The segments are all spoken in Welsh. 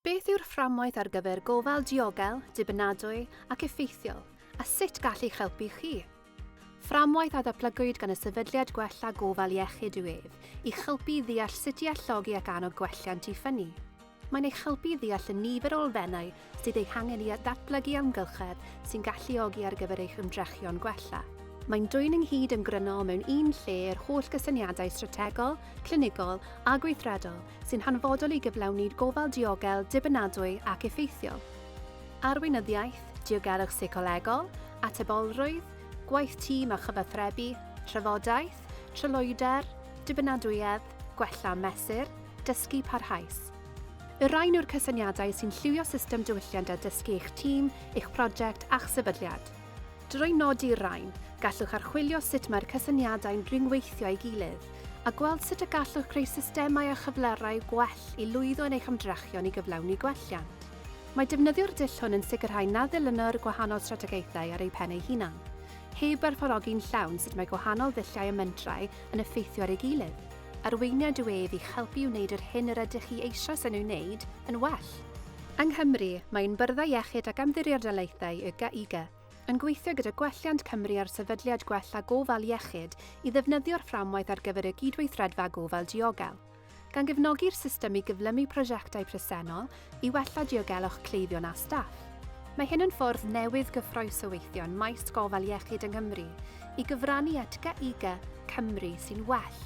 Beth yw'r fframwaith ar gyfer gofal diogel, dibynadwy ac effeithiol, a sut gall eich helpu chi? Fframwaith a ddatblygwyd gan y Sefydliad Gwella Gofal Iechyd yw ef, i'ch helpu i ddeall sut i alluogi ac annog gwelliant i ffynnu. Mae'n eich helpu i ddeall y nifer o elfennau sydd eu hangen i ddatblygu amgylchedd sy'n galluogi ar gyfer eich ymdrechion gwella. Mae'n dwyn ynghyd yn grynol mewn un lle yr holl gysyniadau strategol, clinigol a gweithredol sy'n hanfodol i gyflawni gofal diogel, dibynadwy ac effeithiol. Arweinyddiaeth, diogelwch seicolegol, atebolrwydd, gwaith tîm a chyfathrebu, trafodaeth, tryloywder, dibynadwyedd, gwella mesur, dysgu parhaus. Y rhain yw'r cysyniadau sy'n lliwio system diwylliant a dysgu eich tîm, eich prosiect a'ch sefydliad. Drwy nodi'r rain, gallwch archwilio sut mae'r cysyniadau'n rhyngweithio â'i gilydd, a gweld sut y gallwch greu systemau a chyflerau gwell i lwyddo yn eich ymdrechion i gyflawni gwelliant. Mae defnyddio'r dull hwn yn sicrhau na ddilyno'r gwahanol strategaethau ar eu pen eu hunain, heb werthfawrogi'n llawn sut mae gwahanol ddulliau a mentrau yn effeithio ar ei gilydd. Arweiniad yw ef i'ch helpu i wneud yr hyn yr ydych chi eisoes yn ei wneud yn well. Yng Nghymru, mae ein Byrddau Iechyd ac Ymddiriedolaethau, YGAIGA, yn gweithio gyda Gwelliant Cymru a'r Sefydliad Gwella Gofal Iechyd i ddefnyddio'r fframwaith ar gyfer y Gydweithredfa Gofal Diogel, gan gefnogi'r system i gyflymu prosiectau presennol i wella diogelwch cleifion a staff. Mae hyn yn ffordd newydd gyffrous o weithio yn maes gofal iechyd yng Nghymru i gyfrannu at YGAIGA Cymru sy'n well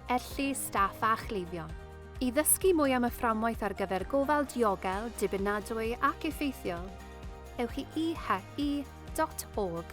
er lles staff a chleifion. I ddysgu mwy am y fframwaith ar gyfer gofal diogel, dibynadwy ac effeithiol, ewch i IHE dot org.